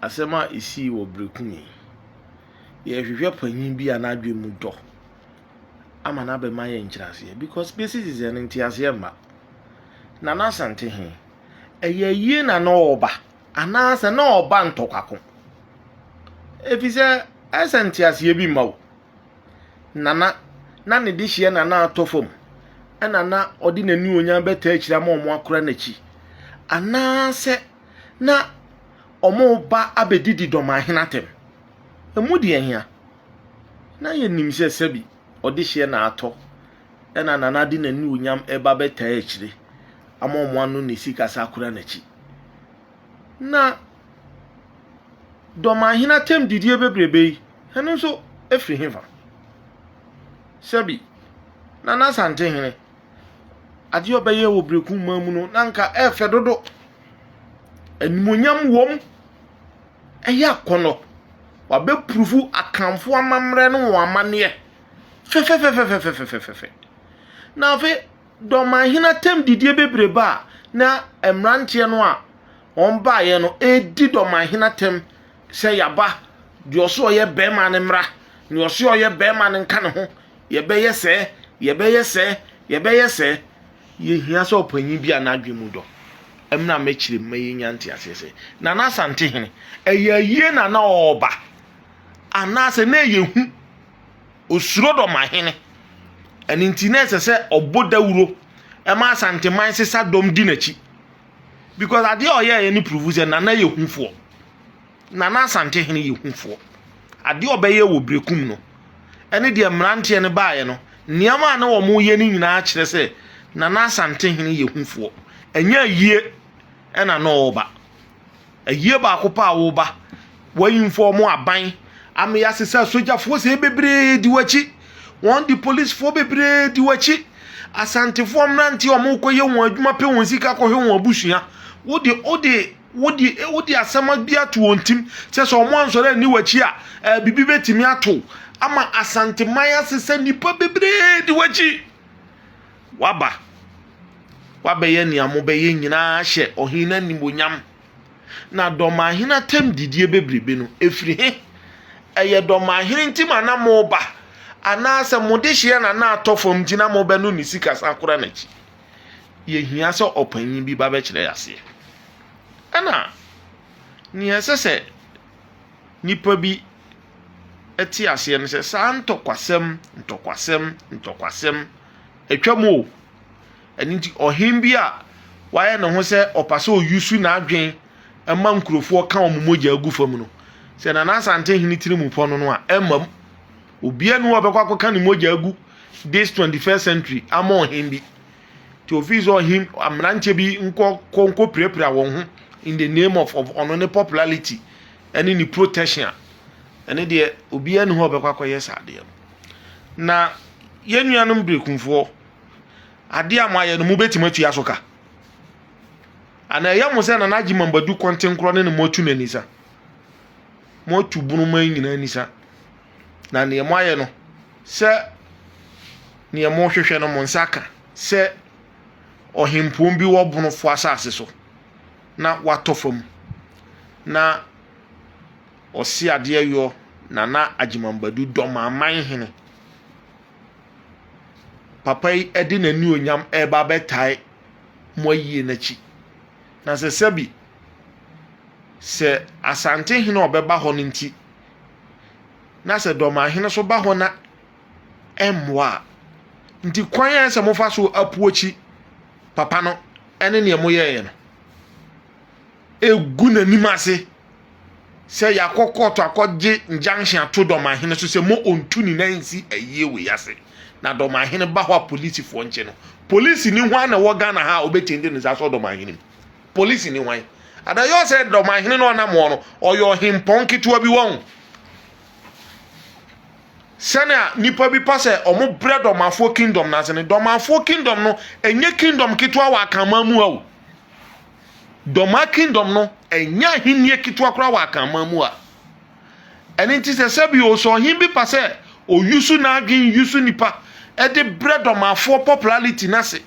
Asɛm a esii wɔ Berekum yi, yɛrehwehwɛ panyin bi a n'adwene mu dɔ ama no abɛma yɛn nkyerɛaseɛ because bɛsi sesɛ no nteaseɛ mma. Nana Asante he, ɛyɛ ayie na na ɔreba anaasɛ na ɔreba ntɔkwako? Efisɛ ɛsɛ nteaseɛ bi mma o. Nana, na ne dehyeɛ na na atɔ fam, ɛna na ɔde n'anuonyam bɛtaa akyiri ama wɔn akora n'akyi, anaasɛ na wɔreba abɛdidi dɔmahene atɛm. Ɛmu deɛ hia? Na yɛnim sɛ sɛbi ɔdehyeɛ na atɔ, ɛna Nana de n'anuonyam ɛba bɛtaa akyire ama wɔn ano ne sikasa akora n'akyi. na dɔmahene atɛmdidie bebrebe yi, ɛno nso firi hefa? Sɛbi, na n'Asantehene, adeɛ a ɔbɛyɛ wɔ Berekum man mu no, na anka ɛyɛ fɛ dodo. Animuonyam wom, ɛyɛ akɔnnɔ. Wabɛpurufu Akanfoɔ amammerɛ ne wɔn amanneɛ fɛfɛfɛfɛfɛfɛfɛfɛ. Na afei. Dɔmahene atɛmdidie bebree ba a, na mmeranteɛ no a wɔbaeɛ no redi dɔmahene atɛm sɛ yɛaba, deɛ ɔse ɔyɛ barima no mmra, deɛ ɔse ɔyɛ barima no nka ne ho, yɛbɛyɛ sɛɛ, yɛbɛyɛ sɛɛ, yɛbɛyɛ sɛɛ. Yɛhia sɛ ɔpanyin bi a n'adwene mu dɔ mmra mmɛkyerɛ mu ma yɛnya nteaseɛ sɛ, Nana Asantehene, ɛyɛ ayie na na ɔreba anaasɛ na ɛyɛ hu? Osuro dɔmahene. Ɛno nti na ɛsɛ sɛ ɔbɔ dawuro ma Asanteman sesa dɔm di n'akyi. Because adeɛ a ɔyɛeɛ no prove sɛ Nana yɛ hufoɔ. Nana Asantehene yɛ hufoɔ. Adeɛ a ɔbɛyɛ wɔ Berekum no ɛne deɛ mmeranteɛ no baeɛ no, nneɛma a na wɔyɛ no nyinaa kyerɛ sɛ Nana Asantehene yɛ hufoɔ. Ɛnyɛ ayie ɛna na ɔreba. Ayie baako pɛ a woreba. Wɔainfɔɔmo aban amee ase sɛ sogyafoɔ sei bebree di w'akyi. Wɔde polisfoɔ bebree di w'akyi. Asantefoɔ mmeranteɛ a wɔrekɔyɛ wɔn adwuma pɛ wɔn sika kɔhwɛ wɔn abusua. Wode wode wode wode asɛm bi ato wɔn tim sɛ sɛ wɔansɔre anni w'akyi a, eh, biribi bɛtumi ato wo. Ama Asanteman ase sɛ nnipa bebree di w'akyi. waba. Wabɛyɛ nea mobɛyɛ nyinaa ahyɛ ɔhene no animuonyam. Na dɔmahene atam didie bebrebe no, ɛfiri he? Ɛyɛ dɔmahene nti ma na moba, anaasɛ mo dehyeɛ na na atɔ fam nti na mobɛno ne sika san kora n'akyi? Yɛhia sɛ ɔpanyin bi ba bɛkyerɛ yɛ aseɛ. Ɛna nea ɛsɛ sɛ nipa bi te aseɛ no sɛ saa ntɔkwasɛm ntɔkwasɛm ntɔkwasɛm Atwam o. Ɛno nti ɔhen bi a wayɛ ne ho sɛ ɔpa sɛ ɔyusu n'adwen ma nkurofoɔ ka wɔn mogyaa gu fam no, sɛ Nana Asante hene tiri mu pɔ no no a, ɛmma mu. Obiara nni hɔ a ɔbɛkɔ akɔka ne mogyaa agu this 21st century ama ɔhen bi. Nti ɔfii sɛ ɔhen mmeranteɛ bi nkɔ kɔ nkɔ pirapira wɔn ho in the name of, of ɔno ne popularity ɛne ne protection a, ɛne deɛ obiara nni hɔ a ɔbɛkɔ akɔyɛ saa adeɛ no. Na yɛn nuanom berekumfoɔ, adeɛ a moayɛ no, mobɛtumi atua so ka? Ana ɛyɛ mo sɛ Nana Agyeman Badu kɔntenkorɔ ne ne moatu no anisa? Moatu bonoma yi nyinaa anisa. Na neɛ moayɛ no, sɛ neɛ mohwehwɛ no mo nsa ka sɛ ɔhempɔn bi wɔ bonofoɔ asase so na watɔ fam na Ɔse adeɛ yɔ Nana Agyeman Badu Dɔmaman hene. Papa yi ɛde n'anionyam ɛreba abɛtae mo ayie no akyi. Na sɛ sɛbi sɛ Asante hene a ɔbɛba hɔ no nti na sɛ Dɔman hene so ba hɔ na ɛmmoa a, nti kwan a ɛsɛ mofa so apuokyi papa no ɛne neɛ moyɛeɛ no. Ɛgu n'anim ase. sɛ yɛakɔ kɔɔto akɔgye injunction ato dɔmahene so sɛ mo ɔntu ne nan nsi ayie wei ase na dɔmahene ba hɔ a polisifoɔ nkye no polisi ni hwan na ɛwɔ ghana ha a ɔbɛtumi de ne nsa sɔ dɔmahene mu polisi ni hwan ada yɛ sɛ dɔmahene no ɔnam hɔ no ɔyɛ ɔhempɔn ketewa bi wɔn sɛnea nipa bi pa sɛ ɔmo brɛ dɔmafoɔ kingdom no ase no dɔmafoɔ kingdom no ɛnyɛ kingdom ketewa wɔ akaman mu a o Dɔm a kingdom no, ɛnyɛ ahennie ketewa koraa wɔ Akanman mu a. Ɛno nti sɛ sɛbi o, sɛ ɔhen bi pa sɛ ɔyusu n'adwen yusu nipa de brɛ dɔmafoɔ popularity no ase,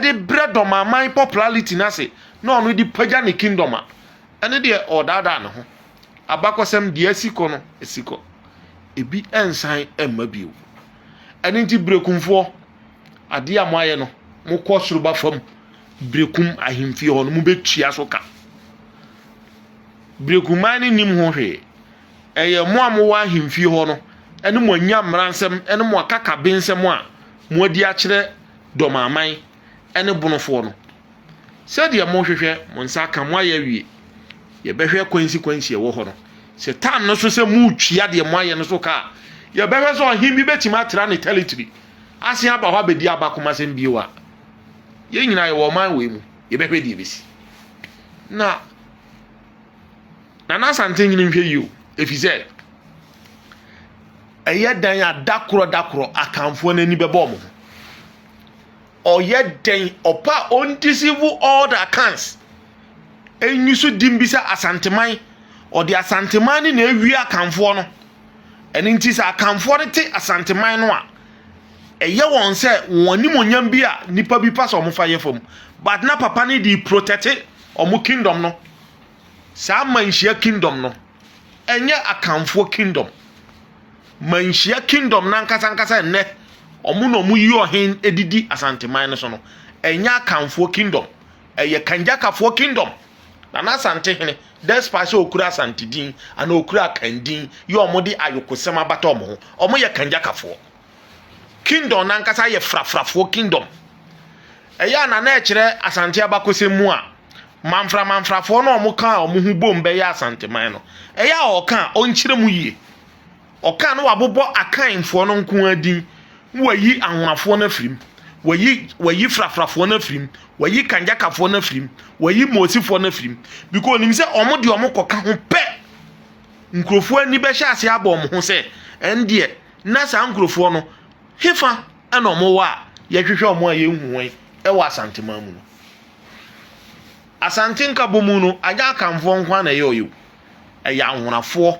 de brɛ dɔmaman popularity no ase, na ɔno de pagya ne kingdom a, ɛno deɛ ɔredaadaa ne ho. Abakɔsɛm deɛ asi kɔ no, asi kɔ. Ebi nsan mma bio. Ɛno nti Berekumfoɔ, Adeɛ a moayɛ no, mokɔ soro ba fam Berekum ahemfie hɔ no, mobɛtua so ka. Berekuman no nnim ho hwee. Ɛyɛ mo a mowɔ ahemfie hɔ no ne mo anya mmaransɛm ne mo akakabensɛm a moadi akyerɛ dɔmaman ne bonofoɔ no. Sɛdeɛ mohwehwɛ mo nsa aka moayɛ awie. Yɛbɛhwɛ kwansikwansi ɛwɔ hɔ no. Sɛ tam no so sɛ moretua deɛ moayɛ no so ka a, yɛbɛhwɛ sɛ ɔhen bi bɛtumi atra ne tɛritiri asan aba hɔ abɛdi aba komasɛm bio a yɛn nyinaa yɛwɔ ɔman wei mu yɛbɛhwɛ deɛ ɛbɛsi na nana asante nyini nhwɛ yio ɛfiri sɛ ɛyɛ dan a dakorɔ dakorɔ akanfoɔ no ani bɛbɔ ɔmo ho ɔyɛ dɛn ɔpa a ɔndisivu all the accounts ɛnyi so dim bi sɛ asanteman ɔde asanteman ne na awie akanfoɔ no Ɛno nti sɛ Akanfoɔ no te Asanteman no a, ɛyɛ wɔn sɛ wɔn animonyam bi a nipa bi pa sɛ wɔn fa yɛ fam. But na papa no de protɛte wɔn kingdom no. Saa manhyia kingdom no, ɛnyɛ Akanfoɔ kingdom. Manhyia kingdom no ankasa ankasa nnɛ, wɔn na wɔyi ɔhen didi Asanteman no so no, ɛnyɛ Akanfoɔ kingdom. Ɛyɛ Kangyakafoɔ kingdom. Nana Asantehene, despite sɛ ɔkura Asante din anaa ɔkura Akan din, yɛ wɔn de ayokosɛm abata wɔn ho. Wɔn yɛ Kanjakafoɔ. Kingdom nankasa yɛ frafrafoɔ kingdom. Ɛyɛ a Nana ɛkyerɛ Asante abakɔsɛm mu a, manfra manfrafoɔ no a wɔn ka a wɔn ho bom bɛyɛ Asanteman no, ɛyɛ a ɔka a, ɔnkyerɛ mu yie. Ɔkaa no wabobɔ Akanfoɔ no nko ara din, na wayi Ahonafoɔ no afiri mu, wayi wayi Frafrafoɔ no afiri mu, wayi Kanjakafoɔ no afiri mu, wayi Moosifoɔ no afiri mu, because onim sɛ wɔn deɛ wɔn kɔka ho pɛ. Nkurɔfoɔ ani bɛhyɛ ase abɔ wɔn ho sɛ, ɛndeɛ na saa nkurɔfoɔ no hefa ɛna wɔn wɔ a yɛhwehwɛ wɔn a yɛnhu wɔn ɛwɔ Asanteman mu no. Asante Nkabɔmu no anyɛ Akanfoɔ nko ara na ɛyɛ ɔyɛ o, ɛyɛ Ahonafoɔ.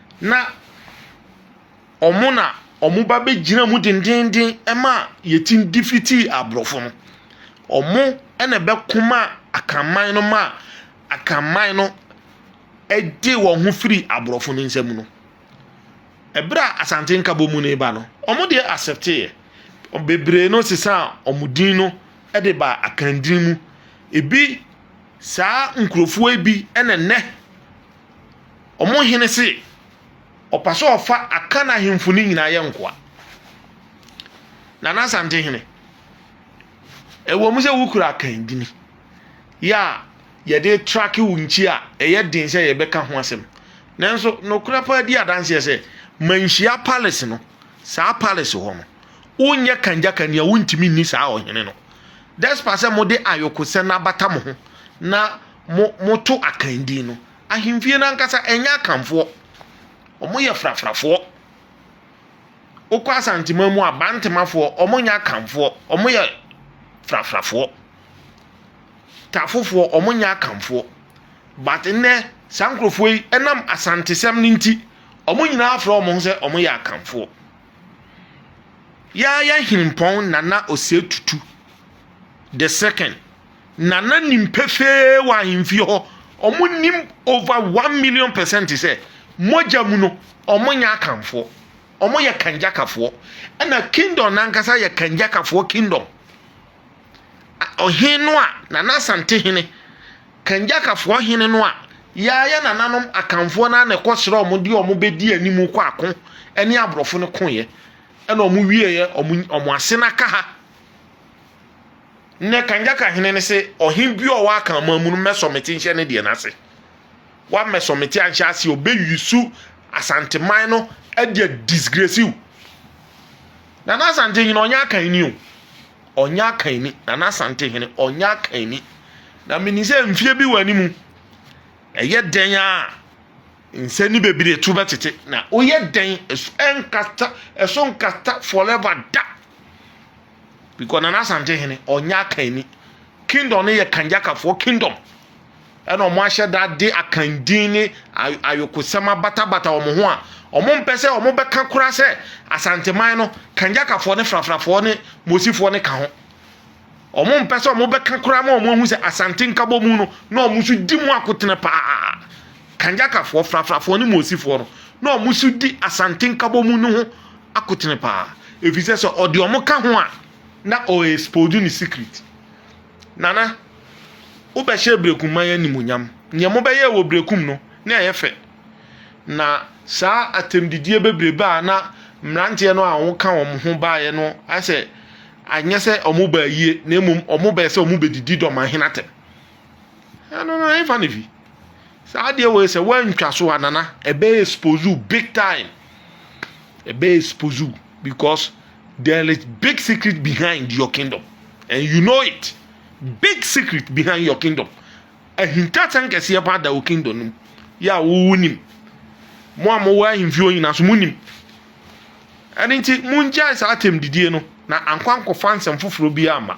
na wɔn na wɔba bɛgyina mu dendeenden ma yɛtumi defeatii aborɔfo no. Wɔn na ɛbɛko maa Akanman no maa Akanman no gyee wɔn ho firii aborɔfo no nsam no. Berɛ a Asante Nkabom no reba no, wɔn deɛ accepteeɛ. Bebree no sesaa wɔn din no de baa Akan din mu. Ebi, saa nkurɔfoɔ yi bi na nnɛ. Wɔn hene se, ɔpɛ sɛ ɔfa Akan ahemfo no nyinaa yɛ nkoa. Nana Asante hene, ɛwɔ mu sɛ wokura Akan dini yɛ a yɛde trake wo nkyi a ɛyɛ den sɛ yɛbɛka ho asɛm. Nanso nokorɛ paa di adanseɛ sɛ manhyia palace no saa palace hɔ no wonyɛ kangyaka nea wontumi nni saa ɔhene no. Despite sɛ mode ayɔkosɛm abata mo ho na mo moto akan din no ahemfie no ankasa ɛnyɛ akanfoɔ wɔn yɛ frafrafoɔ wokɔ asantema mu abantemafoɔ wɔn nyɛ akanfoɔ wɔn yɛ frafrafoɔ tafofoɔ wɔn nyɛ akanfoɔ but nnɛ saa nkurɔfoɔ yi ɛnam asantesɛm no nti wɔn nyinaa afrɛ wɔn ho sɛ wɔn yɛ akanfoɔ yɛayɛ hempɔn nana ɔsɛ tutu the second. Na na nim pefee wɔ ahemfie hɔ, wɔn nim over one million percent sɛ mogya mu no wɔn nyɛ akanfoɔ, wɔn yɛ kanjakafoɔ, ɛna kingdom nankasa yɛ kanjakafoɔ kingdom. Ɔhene no a nana asante hene, kanjakafoɔ hene no a yɛayɛ nananom akanfoɔ no na ɛkɔ srɛ wɔn deɛ wɔn bɛdi anim kɔ ako ɛne aborɔfo no koeɛ ɛna wɔn wieɛ wɔn ase no aka ha. Nnɛ Kanjaka hene no se, Ɔhene biara a ɔwɔ Akanman mu no mmɛsɔmete nhyɛ ne deɛ no ase. Woammɛsɔmete anhyɛ ase a, ɔbɛuse Asanteman no de a disgrace wo. Nana Asantehene, ɔnyɛ Akan ni o. Ɔnyɛ Akan ni. Nana Asantehene, ɔnyɛ Akan ni. Na menim sɛ mfeɛ bi wɔ anim, ɛyɛ dɛn a nsɛ ne bebree to bɛtete. Na woyɛ dɛn ɛso nkata, ɛso nkata forever da. Because Nana Asante hene ɔnyɛ akanni. Kingdom no yɛ Kanjakafoɔ kingdom. Ɛna wɔn ahyɛ da de akandin ne ayokosɛm abatabata wɔn ho a wɔn mpɛ sɛ wɔn bɛka koraa sɛ Asanteman no Kanjakafoɔ ne Frafrafoɔ ne Mosifoɔ ne ka ho. Wɔn mpɛ sɛ wɔn bɛka koraa ma wɔn ahu sɛ Asante Nkabɔmu no na wɔn nso di mu akotene paa. Kanjakafoɔ, Frafrafoɔ ne Moosifoɔ no, na wɔn nso di Asante Nkabɔmu no ho akotene paa, ɛfiri sɛ sɛ ɔde wɔn ka ho a, na ɔɛɛspodu ne secret. Nana, wobɛhyɛɛ Brekumman animuonyam. Neɛ mobɛyɛɛ wɔ Brekum no, na ɛyɛ fɛ. Na saa atɛmdidie bebrebe a na mmeranteɛ no a wɔka wɔn ho baeɛ no, ayɛ sɛ anyɛ sɛ wɔn baa yie, na mmom wɔn bɛɛ sɛ wɔn bɛdidi dɔmahene atɛm. Eh, no, no, I ain't funny. Fi. So I deal with say when so anana, a be expose you big time. A be expose you because there is big secret behind your kingdom, and you know it. Big secret behind your kingdom. A hinta tank is about the kingdom. Yeah, who him? Mo a mo wɔ ahemfie onyina so mo nim. Ɛne nti, mo ngyae saa atɛm didie no, na ankwankɔfa nsɛm foforɔ bi ama.